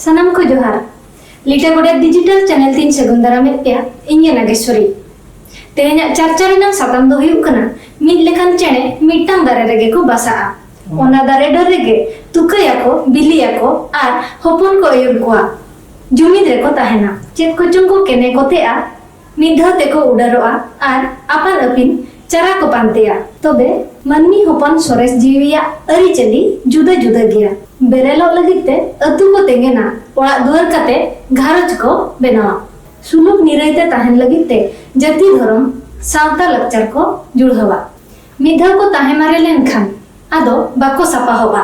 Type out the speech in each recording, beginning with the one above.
ᱥᱟᱱᱟᱢ ᱠᱚ ᱡᱚᱦᱟᱨ ᱞᱤᱴᱟ ᱜᱚᱰᱮ ᱰᱤᱡᱤᱴᱟᱞ ᱪᱮᱱᱮᱞ ᱛᱤᱧ ᱥᱟᱹᱜᱩᱱ ᱫᱟᱨᱟᱢᱮᱫ ᱯᱮᱭᱟ ᱤᱧ ᱜᱮ ᱱᱟᱜᱮᱥᱣᱚᱨᱤ ᱛᱮᱦᱮᱧᱟᱜ ᱪᱟᱨᱪᱟ ᱨᱮᱱᱟᱜ ᱥᱟᱛᱟᱢ ᱫᱚ ᱦᱩᱭᱩᱜ ᱠᱟᱱᱟ ᱢᱤᱫ ᱞᱮᱠᱟᱱ ᱪᱮᱬᱮ ᱢᱤᱫᱴᱟᱝ ᱫᱟᱨᱮ ᱨᱮᱜᱮ ᱠᱚ ᱵᱟᱥᱟᱜᱼᱟ ᱚᱱᱟ ᱫᱟᱨᱮ ᱰᱟᱹᱨ ᱨᱮᱜᱮ ᱛᱩᱠᱟᱹᱭᱟᱠᱚ ᱵᱤᱞᱤᱭᱟᱠᱚ ᱟᱨ ᱦᱚᱯᱚᱱ ᱠᱚ ᱟᱹᱭᱩᱨ ᱠᱚᱣᱟ ᱡᱩᱢᱤᱫ ᱨᱮᱠᱚ ᱛᱟᱦᱮᱱᱟ ᱪᱮᱫ ᱠᱚᱪᱚᱝ ᱠᱚ ᱠᱮᱱᱮ ᱠᱚᱛᱮᱜᱼᱟ ᱢᱤᱫ ᱫᱷᱟᱣ ᱛᱮᱠᱚ ᱩᱰᱟᱹᱨᱚᱜᱼᱟ ᱟᱨ ᱟᱯᱟᱱ ᱟᱹᱯᱤᱱ ᱪᱟᱨᱟ ᱠᱚ ᱯᱟᱱᱛᱮᱭᱟ᱾ ᱛᱚᱵᱮ ᱢᱟᱹᱱᱢᱤ ᱦᱚᱯᱚᱱ ᱥᱚᱨᱮᱥ ᱡᱤᱣᱤᱭᱟᱜ ᱟᱹᱨᱤᱪᱟᱹᱞᱤ ᱡᱩᱫᱟᱹ ᱡᱩᱫᱟᱹ ᱜᱮᱭᱟ᱾ ᱵᱮᱨᱮᱞᱚᱜ ᱞᱟᱹᱜᱤᱫ ᱛᱮ ᱟᱹᱛᱩ ᱠᱚ ᱛᱮᱸᱜᱮᱱᱟ, ᱚᱲᱟᱜ ᱫᱩᱣᱟᱹᱨ ᱠᱟᱛᱮ ᱜᱷᱟᱨᱚᱸᱡᱽ ᱠᱚ ᱵᱮᱱᱟᱣᱟ, ᱥᱩᱞᱩᱠ ᱱᱤᱨᱟᱹᱭ ᱛᱮ ᱛᱟᱦᱮᱸᱱ ᱞᱟᱹᱜᱤᱫ ᱛᱮ ᱡᱟᱹᱛᱤ ᱫᱷᱚᱨᱚᱢ ᱥᱟᱶᱛᱟ ᱞᱟᱠᱪᱟᱨ ᱠᱚ ᱡᱩᱲᱦᱟᱹᱣᱟ᱾ ᱢᱤᱫ ᱫᱷᱟᱣ ᱠᱚ ᱛᱟᱦᱮᱸ ᱢᱟᱨᱮ ᱞᱮᱱ ᱠᱷᱟᱱ ᱟᱫᱚ ᱵᱟᱠᱚ ᱥᱟᱯᱟᱦᱚᱜᱼᱟ᱾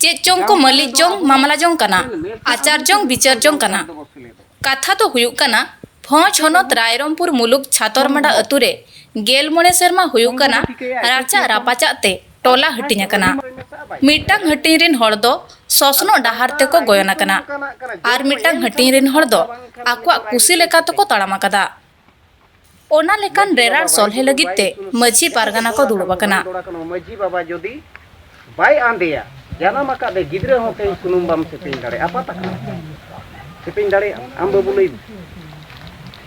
ᱪᱮᱫ ᱪᱚᱝ ᱠᱚ ᱢᱟᱹᱞᱤᱠ ᱡᱚᱝ ᱢᱟᱢᱞᱟ ᱡᱚᱝ ᱠᱟᱱᱟ ᱟᱪᱟᱨ ᱡᱚᱝ ᱵᱤᱪᱟᱹᱨ ᱡᱚᱝ ᱠᱟᱱᱟ ᱠᱟᱛᱷᱟ ᱫᱚ ᱦᱩᱭᱩᱜ ᱠᱟᱱᱟ ᱵᱷᱚᱸᱡᱽ ᱦᱚᱱᱚᱛ ᱨᱟᱭᱨᱚᱝᱯᱩᱨ ᱢᱩᱞᱩᱠ ᱪᱷᱟᱛᱚᱨᱢᱟᱰᱟ ᱟᱹᱛᱩ ᱨᱮ ᱜᱮᱞ ᱢᱚᱬᱮ ᱥᱮᱨᱢᱟ ᱦᱩᱭᱩᱜ ᱠᱟᱱᱟ ᱨᱟᱪᱟᱜ ᱨᱟᱯᱟᱪᱟᱜ ᱛᱮ ᱴᱚᱞᱟ ᱦᱟᱹᱴᱤᱧ ᱟᱠᱟᱱᱟ ᱢᱤᱫᱴᱟᱝ ᱦᱟᱹᱴᱤᱧ ᱨᱤᱱ ᱦᱚᱲ ᱫᱚ ᱥᱚᱥᱱᱚᱜ ᱰᱟᱦᱟᱨ ᱛᱮᱠᱚ ᱜᱚᱭᱚᱱ ᱟᱠᱟᱱᱟ ᱟᱨ ᱢᱤᱫᱴᱟᱝ ᱦᱟᱹᱴᱤᱧ ᱨᱤᱱ ᱦᱚᱲ ᱫᱚ ᱟᱠᱚᱣᱟᱜ ᱠᱩᱥᱤ ᱞᱮᱠᱟ ᱛᱮᱠᱚ ᱛᱟᱲᱟᱢ ᱟᱠᱟᱫᱟ ᱚᱱᱟ ᱞᱮᱠᱟᱱ ᱨᱮᱨᱟᱲ ᱥᱚᱞᱦᱮ ᱞᱟᱹᱜᱤᱫ ᱛᱮ ᱢᱟᱹᱡᱷᱤ ᱯᱟᱨᱜᱟᱱᱟ ᱠᱚ ᱫᱩᱲᱩᱵ ᱟᱠᱟᱱᱟ᱾ ᱢᱟᱹᱡᱷᱤ ᱵᱟᱵᱟ ᱡᱚᱫᱤ ᱵᱟᱭ ᱟᱸᱫᱮᱭᱟ ᱡᱟᱱᱟᱢ ᱟᱠᱟᱫ ᱫᱮ ᱜᱤᱫᱽᱨᱟᱹ ᱦᱚᱸ ᱛᱮᱦᱮᱧ ᱥᱩᱱᱩᱢ ᱵᱟᱢ ᱥᱮᱯᱮᱧ ᱫᱟᱲᱮᱭᱟᱜᱼᱟ ᱟᱯᱟᱛ ᱟᱠᱟᱱᱟ ᱥᱮᱯᱮᱧ ᱫᱟᱲᱮᱭᱟᱜᱼᱟ ᱟᱢ ᱵᱟᱹᱵᱩ ᱞᱟᱹᱭ ᱢᱮ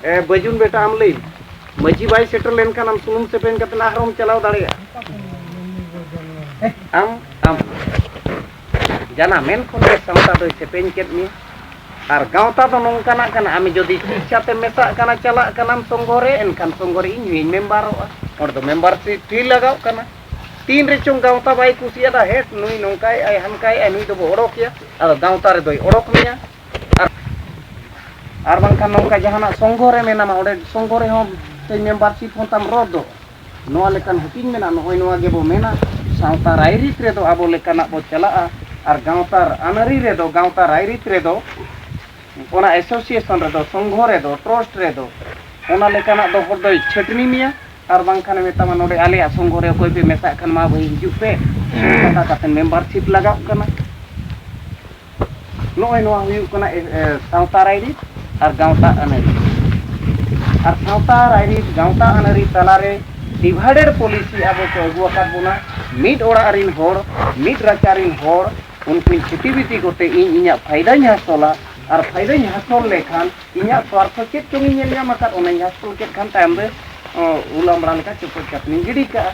ᱮ ᱵᱟᱹᱡᱩᱱ ᱵᱮᱴᱟ ᱟᱢ ᱞᱟᱹᱭ ᱢᱮ ᱢᱟᱹᱡᱷᱤ ᱵᱟᱭ ᱥᱮᱴᱮᱨ ᱞᱮᱱᱠᱷᱟᱱ ᱟᱢ ᱥᱩᱱᱩᱢ ᱥᱮᱯᱮᱧ ᱠᱟᱛᱮ ᱟᱨᱦᱚᱸᱢ ᱪᱟᱞᱟᱣ ᱫᱟᱲᱮᱭᱟᱜᱼᱟ ᱟᱢ ᱟᱢ ᱡᱟᱱᱟ ᱢᱮᱱ ᱠᱷᱚᱱ ᱜᱮ ᱥᱟᱶᱛᱟ ᱫᱚᱭ ᱥᱮᱯᱮᱧ ᱠᱮᱫ ᱢᱮᱭᱟ ᱟᱨ ᱜᱟᱶᱛᱟ ᱫᱚ ᱱᱚᱝᱠᱟᱱᱟᱜ ᱠᱟᱱᱟ ᱟᱢ ᱡᱩᱫᱤ ᱤᱪᱪᱷᱟ ᱛᱮ ᱢᱮᱥᱟᱜ ᱠᱟᱱᱟ ᱪᱟᱞᱟᱜ ᱠᱟᱱᱟᱢ ᱥᱚᱝᱜᱷᱚ ᱨᱮ ᱮᱱᱠᱷᱟᱱ ᱥᱚᱝᱜᱷᱚ ᱨᱮ ᱤᱧ ᱦᱚᱧ ᱢᱮᱢᱵᱟᱨᱚᱜᱼᱟ ᱚᱸᱰᱮ ᱫᱚ ᱢᱮᱢᱵᱟᱨᱥᱤᱯ ᱯᱷᱤ ᱞᱟᱜᱟᱣ ᱠᱟᱱᱟ ᱛᱤᱱ ᱨᱮ ᱪᱚᱝ ᱜᱟᱶᱛᱟ ᱵᱟᱭ ᱠᱩᱥᱤᱭᱟᱫᱟ ᱦᱮᱴ ᱱᱩᱭ ᱱᱚᱝᱠᱟᱭ ᱟᱭ ᱦᱟᱱᱠᱟᱭ ᱟᱭ ᱱᱩᱭ ᱫᱚᱵᱚ ᱚᱰᱚᱠᱮᱭᱟ ᱟᱫᱚ ᱜᱟᱶᱛᱟ ᱨᱮ ᱫᱚᱭ ᱚᱰᱚᱠ ᱢᱮᱭᱟ ᱟᱨ ᱟᱨ ᱵᱟᱝᱠᱷᱟᱱ ᱱᱚᱝᱠᱟ ᱡᱟᱦᱟᱱᱟᱜ ᱥᱚᱝᱜᱷᱚ ᱨᱮ ᱢᱮᱱᱟᱢᱟ ᱚᱸᱰᱮ ᱥᱚᱝᱜᱷᱚ ᱨᱮᱦᱚᱸ ᱢᱮᱢᱵᱟᱨᱥᱤᱯ ᱦᱚᱸ ᱛᱟᱢ ᱨᱚᱫᱽᱫᱚᱜᱼᱟ ᱱᱚᱣᱟ ᱞᱮᱠᱟᱱ ᱦᱟᱹᱴᱤᱧ ᱢᱮᱱᱟᱜ ᱱᱚᱜᱼᱚᱭ ᱱᱚᱣᱟ ᱜᱮ ᱵᱚ ᱢᱮᱱᱟ ᱥᱟᱶᱛᱟ ᱨᱟᱭᱨᱤᱛ ᱨᱮ ᱫᱚ ᱟᱵᱚ ᱞᱮᱠᱟᱱᱟᱜ ᱵᱚ ᱪᱟᱞᱟᱜᱼᱟ ᱟᱨ ᱜᱟᱶᱛᱟ ᱟᱹᱱ ᱟᱹᱨᱤ ᱨᱮ ᱫᱚ ᱜᱟᱶᱛᱟ ᱨᱟᱭᱨᱤᱛ ᱨᱮ ᱫᱚ ᱚᱱᱟ ᱮᱥᱳᱥᱤᱭᱮᱥᱚᱱ ᱨᱮ ᱫᱚ ᱥᱚᱝᱜᱷᱚ ᱨᱮ ᱫᱚ ᱴᱨᱚᱥᱴ ᱨᱮ ᱫᱚ ᱚᱱᱟ ᱞᱮᱠᱟᱱᱟᱜ ᱫᱚ ᱦᱚᱲ ᱫᱚᱭ ᱪᱷᱟᱹᱴᱱᱤ ᱢᱮᱭᱟ ᱟᱨ ᱵᱟᱝ ᱠᱷᱟᱱᱮ ᱢᱮᱛᱟᱢᱟ ᱱᱚᱰᱮ ᱟᱞᱮᱭᱟᱜ ᱥᱚᱝᱜᱷᱚ ᱨᱮ ᱚᱠᱚᱭ ᱯᱮ ᱢᱮᱥᱟᱜ ᱠᱷᱟᱱ ᱢᱟ ᱵᱷᱟᱹᱭ ᱦᱤᱡᱩᱜ ᱯᱮ ᱚᱱᱠᱟ ᱠᱟᱛᱮᱫ ᱢᱮᱢᱵᱟᱨᱥᱤᱯ ᱞᱟᱜᱟᱜ ᱠᱟᱱᱟ ᱱᱚᱜᱼᱚᱭ ᱱᱚᱣᱟ ᱦᱩᱭᱩᱜ ᱠᱟᱱᱟ ᱥᱟᱶᱛᱟ ᱨᱟᱭᱨᱤᱛ ᱟᱨ ᱜᱟᱶᱛᱟ ᱟᱹᱱᱟᱹᱨᱤ ᱟᱨ ᱥᱟᱶᱛᱟ ᱨᱟᱭᱨᱤᱛ ᱜᱟᱶᱛᱟ ᱟᱹᱱᱟᱹᱨᱤ ᱛᱟᱞᱟᱨᱮ ᱰᱤᱵᱷᱟᱭᱰᱮᱰ ᱯᱚᱞᱤᱥᱤ ᱟᱵᱚ ᱠᱚ ᱟᱹᱜᱩ ᱟᱠᱟᱫ ᱵᱚᱱᱟ ᱢᱤᱫ ᱚᱲᱟᱜ ᱨᱮᱱ ᱦᱚᱲ ᱢᱤᱫ ᱨᱟᱪᱟ ᱨᱮᱱ ᱦᱚᱲ ᱩᱱᱠᱤᱱ ᱪᱷᱤᱛᱤ ᱵᱤᱛᱤ ᱠᱚᱛᱮ ᱤᱧ ᱤᱧᱟᱹᱜ ᱯᱷᱟᱭᱫᱟᱧ ᱦᱟᱥᱚᱞᱟ ᱟᱨ ᱯᱷᱟᱭᱫᱟᱧ ᱦᱟᱥᱚᱞ ᱞᱮᱠᱷᱟᱱ ᱤᱧᱟᱹᱜ ᱥᱣᱟᱨᱛᱷᱚ ᱪᱮᱫ ᱪᱚᱝ ᱤᱧ ᱧᱮᱞ ᱧᱟᱢ ᱟᱠᱟᱫ ᱚᱱᱟᱧ ᱦᱟᱥᱚᱞ ᱠᱮᱫ ᱠᱷᱟᱱ ᱛᱟᱭᱚᱢ ᱨᱮ ᱩᱞ ᱟᱢᱲᱟ ᱞᱮᱠᱟ ᱪᱚᱯᱚᱡ ᱠᱟᱛᱮᱧ ᱜᱤᱰᱤ ᱠᱟᱜᱼᱟ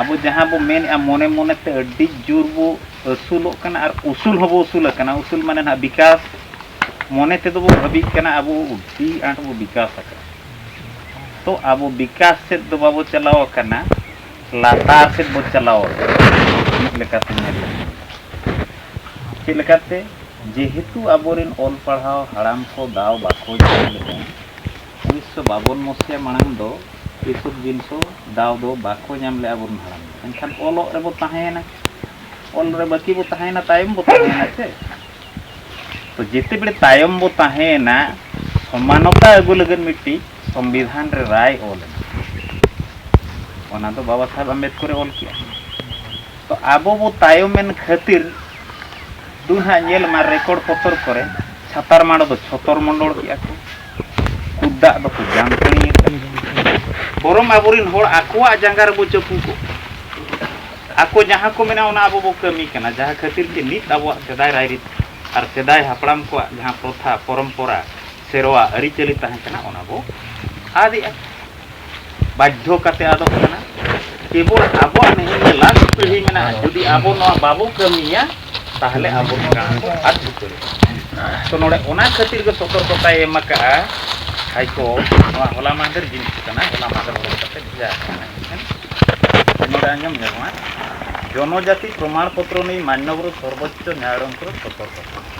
ᱟᱵᱚ ᱡᱟᱦᱟᱸ ᱵᱚ ᱢᱮᱱᱮᱫᱼᱟ ᱢᱚᱱᱮ ᱢᱚᱱᱮ ᱛᱮ ᱟᱹᱰᱤ ᱡᱳᱨ ᱵᱚ ᱟᱹᱥᱩᱞᱚᱜ ᱠᱟᱱᱟ ᱟᱨ ᱩᱥᱩᱞ ᱦᱚᱸᱵᱚ ᱩᱥᱩᱞ ᱟᱠᱟᱱᱟ ᱩᱥᱩᱞ ᱢᱟᱱᱮ ᱱᱟᱦᱟᱜ ᱵᱤᱠᱟᱥ ᱢᱚᱱᱮ ᱛᱮᱫᱚ ᱵᱚ ᱵᱷᱟᱹᱵᱤᱜ ᱠᱟᱱᱟ ᱟᱵᱚ ᱟᱹᱰᱤ ᱟᱸᱴ ᱵᱚ ᱵᱤᱠᱟᱥ ᱟᱠᱟᱱᱟ ᱛᱚ ᱟᱵᱚ ᱵᱤᱠᱟᱥ ᱥᱮᱫ ᱫᱚ ᱵᱟᱵᱚ ᱪᱟᱞᱟᱣ ᱟᱠᱟᱱᱟ ᱞᱟᱛᱟᱨ ᱥᱮᱫ ᱵᱚ ᱪᱟᱞᱟᱣ ᱟᱠᱟᱱᱟ ᱢᱤᱫ ᱞᱮᱠᱟᱛᱮ ᱧᱮᱞ ᱞᱮᱠᱷᱟᱱ ᱪᱮᱫ ᱞᱮᱠᱟᱛᱮ ᱡᱮᱦᱮᱛᱩ ᱟᱵᱚᱨᱮᱱ ᱚᱞ ᱯᱟᱲᱦᱟᱣ ᱦᱟᱲᱟᱢ ᱠᱚ ᱫᱟᱣ ᱵᱟᱠᱚ ᱧᱟᱢ ᱞᱮᱫᱼᱟ ᱩᱱᱤᱥᱥᱚ ᱵᱟᱵᱚᱱ ᱢᱚᱥᱤᱭᱟ ᱢᱟᱲᱟᱝ ᱫᱚ ᱮᱥᱚᱵ ᱡᱤᱱᱥᱚ ᱫᱟᱣ ᱫᱚ ᱵᱟᱠᱚ ᱧᱟᱢ ᱞᱮᱫᱼᱟ ᱟᱵᱚᱨᱮᱱ ᱦᱟᱲᱟᱢ ᱫᱚ ᱮᱱᱠᱷᱟᱱ ᱚᱞᱚᱜ ᱨᱮᱵᱚ ᱛᱟᱦᱮᱸᱭᱮᱱᱟ ᱚᱞ ᱨᱮ ᱵᱟᱹᱠᱤ ᱵᱚ ᱛᱟᱦᱮᱸᱭᱮᱱᱟ ᱛᱟᱭᱚᱢ ᱵᱚ ᱛᱟᱦᱮᱸᱭᱮᱱᱟ ᱥᱮ ᱛᱚ ᱡᱮᱛᱮ ᱵᱮᱲᱮ ᱛᱟᱭᱚᱢ ᱵᱚ ᱛᱟᱦᱮᱸᱭᱮᱱᱟ ᱥᱚᱢᱟᱱᱚᱛᱟ ᱟᱹᱜᱩ ᱞᱟᱹᱜᱤᱫ ᱢᱤᱫᱴᱤᱡ ᱥᱚᱝᱵᱤᱫᱷᱟᱱ ᱨᱮ ᱨᱟᱭ ᱚᱞ ᱮᱱᱟ ᱚᱱᱟ ᱫᱚ ᱵᱟᱵᱟ ᱥᱟᱦᱮᱵᱽ ᱟᱢᱵᱮᱫᱠᱚᱨᱮ ᱚᱞ ᱠᱮᱜᱼᱟ ᱛᱚ ᱟᱵᱚ ᱵᱚ ᱛᱟᱭᱚᱢᱮᱱ ᱠᱷᱟᱹᱛᱤᱨ ᱫᱩ ᱦᱟᱸᱜ ᱧᱮᱞ ᱢᱟ ᱨᱮᱠᱚᱨᱰ ᱯᱚᱛᱚᱨ ᱠᱚᱨᱮ ᱪᱷᱟᱛᱟᱨ ᱢᱟᱰᱚ ᱫᱚ ᱪᱷᱚᱛᱚᱨ ᱢᱚᱱᱰᱚᱞ ᱠᱮᱜᱼᱟ ᱠᱚ ᱠᱩᱫᱟᱜ ᱫᱚᱠᱚ ᱡᱟᱝᱠᱟᱹᱱᱤ ᱵᱚᱨᱚᱢ ᱟᱵᱚᱨᱮᱱ ᱦᱚᱲ ᱟᱠᱚᱣᱟᱜ ᱡᱟᱸᱜᱟ ᱨᱮᱵᱚ ᱪᱟᱹᱯᱩ ᱠᱚ ᱟᱠᱚ ᱡᱟᱦᱟᱸ ᱠᱚ ᱢᱮᱱᱟ ᱚᱱᱟ ᱟᱵᱚ ᱵᱚ ᱠᱟᱹᱢᱤ ᱠᱟᱱᱟ ᱡᱟᱦᱟᱸ ᱠᱷᱟᱹᱛᱤᱨ ᱛᱮ ᱱᱤᱛ ᱟᱵᱚᱣᱟᱜ ᱥᱮᱫᱟᱭ ᱨᱟᱭᱨᱤᱛ ᱟᱨ ᱥᱮᱫᱟᱭ ᱦᱟᱯᱲᱟᱢ ᱠᱚᱣᱟᱜ ᱡᱟᱦᱟᱸ ᱯᱨᱚᱛᱷᱟ ᱯᱚᱨᱚᱢᱯᱚᱨᱟ ᱥᱮᱨᱣᱟ ᱟᱹᱨᱤᱪᱟᱹᱞᱤ ᱛᱟᱦᱮᱸ ᱠᱟᱱᱟ ᱚᱱᱟ ᱵᱚ ᱟᱫᱮᱜᱼᱟ ᱵᱟᱫᱽᱫᱷᱚ ᱠᱟᱛᱮ ᱟᱫᱚᱜ ᱠᱟᱱᱟ ᱠᱮᱵᱚᱞ ᱟᱵᱚᱣᱟᱜ ᱱᱤᱭᱟᱹ ᱞᱟᱥᱴ ᱯᱤᱲᱦᱤ ᱢᱮᱱᱟᱜᱼᱟ ᱡᱩᱫᱤ ᱟᱵᱚ ᱱᱚᱣᱟ ᱵᱟᱵᱚ ᱠᱟᱹᱢᱤᱭᱟ ᱛᱟᱦᱚᱞᱮ ᱟᱵᱚ ᱱᱚᱣᱟ ᱠᱚ ᱟᱫ ᱩᱛᱟᱹᱨ ᱛᱚ ᱱᱚᱰᱮ ᱚᱱᱟ ᱠᱷᱟᱹᱛᱤᱨ ᱜᱮ ᱥᱚᱛᱚᱨᱠᱚᱛᱟᱭ ᱮᱢ ᱟᱠᱟᱜᱼᱟ ᱦᱟᱭᱠᱚ ᱱᱚᱣᱟ ᱦᱚᱞᱟ ᱢᱟᱦᱫᱮᱨ ᱡᱤᱱᱤᱥ ᱠᱟᱱᱟ ᱦᱚᱞᱟ ᱢᱟᱦᱫᱮᱨ ᱚᱰᱚᱠ ᱠᱟᱛᱮ ᱵᱷᱮᱡᱟ ᱟᱠᱟᱱᱟ ᱱᱚᱰᱮ ᱟᱸᱡᱚᱢ ᱧᱟᱢᱚᱜᱼᱟ ᱡᱚᱱᱚᱡᱟᱛᱤ ᱯᱨᱚᱢᱟᱬ ᱯᱚᱛᱨᱚ ᱱᱤᱭᱮ ᱢᱟᱱᱱᱚᱵᱚᱨ ᱥᱚᱨᱵᱚᱪᱪᱚ ᱱᱟᱭᱟᱭᱚᱱ ᱠᱚᱨᱮ ᱥᱚᱛᱚᱨᱠᱚᱛᱟ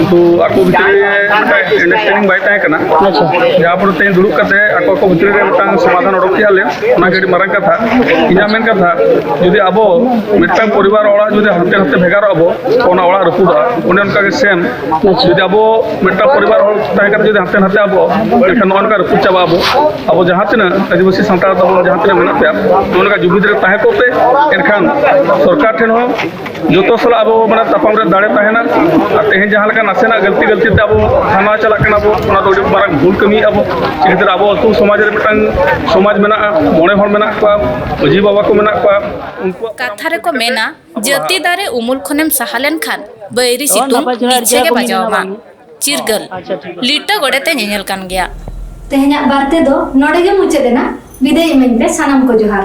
ᱩᱱᱠᱩ ᱟᱠᱚ ᱵᱷᱤᱛᱨᱤ ᱨᱮ ᱟᱱᱰᱟᱨᱥᱴᱮᱱᱰᱤᱝ ᱵᱟᱭ ᱛᱟᱦᱮᱸ ᱠᱟᱱᱟ ᱡᱟᱦᱟᱸ ᱯᱚᱨᱮ ᱛᱮ ᱫᱩᱲᱩᱵ ᱠᱟᱛᱮ ᱟᱠᱚ ᱟᱠᱚ ᱵᱷᱤᱛᱨᱤ ᱨᱮ ᱢᱤᱫᱴᱟᱝ ᱥᱚᱢᱟᱫᱷᱟᱱ ᱚᱰᱚᱠ ᱠᱮᱜᱼᱟ ᱞᱮ ᱚᱱᱟ ᱜᱮ ᱟᱹᱰᱤ ᱢᱟᱨᱟᱝ ᱠᱟᱛᱷᱟ ᱤᱧᱟᱹᱜ ᱢᱮᱱ ᱠᱟᱛᱷᱟ ᱡᱩᱫᱤ ᱟᱵᱚ ᱢᱤᱫᱴᱟᱝ ᱯᱚᱨᱤᱵᱟᱨ ᱚᱲᱟᱜ ᱡᱩᱫᱤ ᱦᱟᱱᱛᱮ ᱱᱟᱛᱮ ᱵᱷᱮᱜᱟᱨᱚᱜ ᱟᱵᱚ ᱛᱚ ᱚᱱᱟ ᱚᱲᱟᱜ ᱨᱟᱹᱯᱩᱫᱚᱜᱼᱟ ᱚᱱᱮ ᱚᱱᱠᱟ ᱜᱮ ᱥᱮᱢ ᱡᱩᱫᱤ ᱟᱵᱚ ᱢᱤᱫᱴᱟᱝ ᱯᱚᱨᱤᱵᱟᱨ ᱦᱚᱲ ᱛᱟᱦᱮᱸ ᱠᱟᱛᱮ ᱡᱩᱫᱤ ᱦᱟᱱᱛᱮ ᱱᱟᱛᱮ ᱟᱵᱚ ᱮᱱᱠᱷᱟᱱ ᱱᱚᱜᱼᱚ ᱱᱚᱝᱠᱟ ᱨᱟᱹᱯᱩᱫ ᱪᱟᱵᱟᱜ ᱟᱵᱚ ᱟᱵᱚ ᱡᱟᱦᱟᱸ ᱛᱤᱱᱟᱹᱜ ᱟᱹᱫᱤᱵᱟᱹᱥᱤ ᱥᱟᱱᱛᱟᱲ ᱛᱟᱵᱚᱱ ᱡᱟᱦᱟᱸ ᱛᱤᱱᱟᱹᱜ ᱢᱮᱱᱟᱜ ᱯᱮᱭᱟ ᱱᱚᱜᱼᱚ ᱱᱚᱝᱠᱟ ᱡᱩᱢᱤᱫ ᱨᱮ ᱛᱟᱦᱮᱸ ᱠᱚᱜ ᱯᱮ ᱮᱱᱠᱷᱟᱱ ᱥᱚᱨᱠᱟᱨ ᱴᱷᱮᱱ ᱦᱚᱸ ᱡᱚᱛᱚ ᱥᱟᱞᱟᱜ ᱟᱵᱚ ᱢᱟᱱᱮ ᱛᱟᱯᱟᱢ ᱨᱮ ᱫᱟᱲᱮ ᱛᱟᱦᱮᱱᱟ ᱟᱨ ᱛᱮᱦᱮᱧ ᱡᱟᱦᱟᱸ ᱞᱮᱠᱟ ᱱᱟᱥᱮᱱᱟᱜ ᱜᱟᱹᱞᱛᱤ ᱜᱟᱹᱞᱛᱤ ᱛᱮ ᱟᱵᱚ ᱛᱷᱟᱱᱟ ᱪᱟᱞᱟᱜ ᱠᱟᱱᱟ ᱵᱚ ᱚᱱᱟ ᱫᱚ ᱟᱹᱰᱤ ᱢᱟᱨᱟᱝ ᱵᱷᱩᱞ ᱠᱟᱹᱢᱤ ᱟᱵᱚ ᱪᱤᱠᱟᱹᱛᱮ ᱟᱵᱚ ᱟᱹᱛᱩ ᱥᱚᱢᱟᱡᱽ ᱨᱮ ᱢᱤᱫᱴᱟᱝ ᱥᱚᱢᱟᱡᱽ ᱢᱮᱱᱟᱜᱼᱟ ᱢᱚᱬᱮ ᱦᱚᱲ ᱢᱮᱱᱟᱜ ᱠᱚᱣᱟ ᱢᱟᱹᱡᱷᱤ ᱵᱟᱵᱟ ᱠᱚ ᱢᱮᱱᱟᱜ ᱠᱚᱣᱟ ᱩᱱᱠᱩᱣᱟᱜ ᱠᱟᱛᱷᱟ ᱨᱮᱠᱚ ᱢᱮᱱᱟ ᱡᱟᱹᱛᱤ ᱫᱟᱨᱮ ᱩᱢᱩᱞ ᱠᱷᱚᱱᱮᱢ ᱥᱟᱦᱟ ᱞᱮᱱᱠᱷᱟᱱ ᱵᱟᱹᱭᱨᱤ ᱥᱤᱛᱩᱝ ᱤᱪᱷᱮ ᱜᱮ ᱵᱟᱡᱟᱣᱟᱢᱟ ᱪᱤᱨᱜᱟᱹᱞ ᱞᱤᱴᱟᱹ ᱜᱚᱰᱮᱛᱮ ᱧᱮᱧᱮᱞ ᱠᱟᱱ ᱜᱮᱭᱟ ᱛᱮᱦᱮᱧᱟᱜ ᱵᱟᱨᱛᱮ ᱫᱚ ᱱᱚᱰᱮ ᱜᱮ ᱢᱩᱪᱟᱹᱫ ᱮᱱᱟ ᱵᱤᱫᱟᱹᱭ ᱤᱢᱟᱹᱧ ᱯᱮ ᱥᱟᱱᱟᱢ ᱠᱚ ᱡᱚᱦᱟᱨ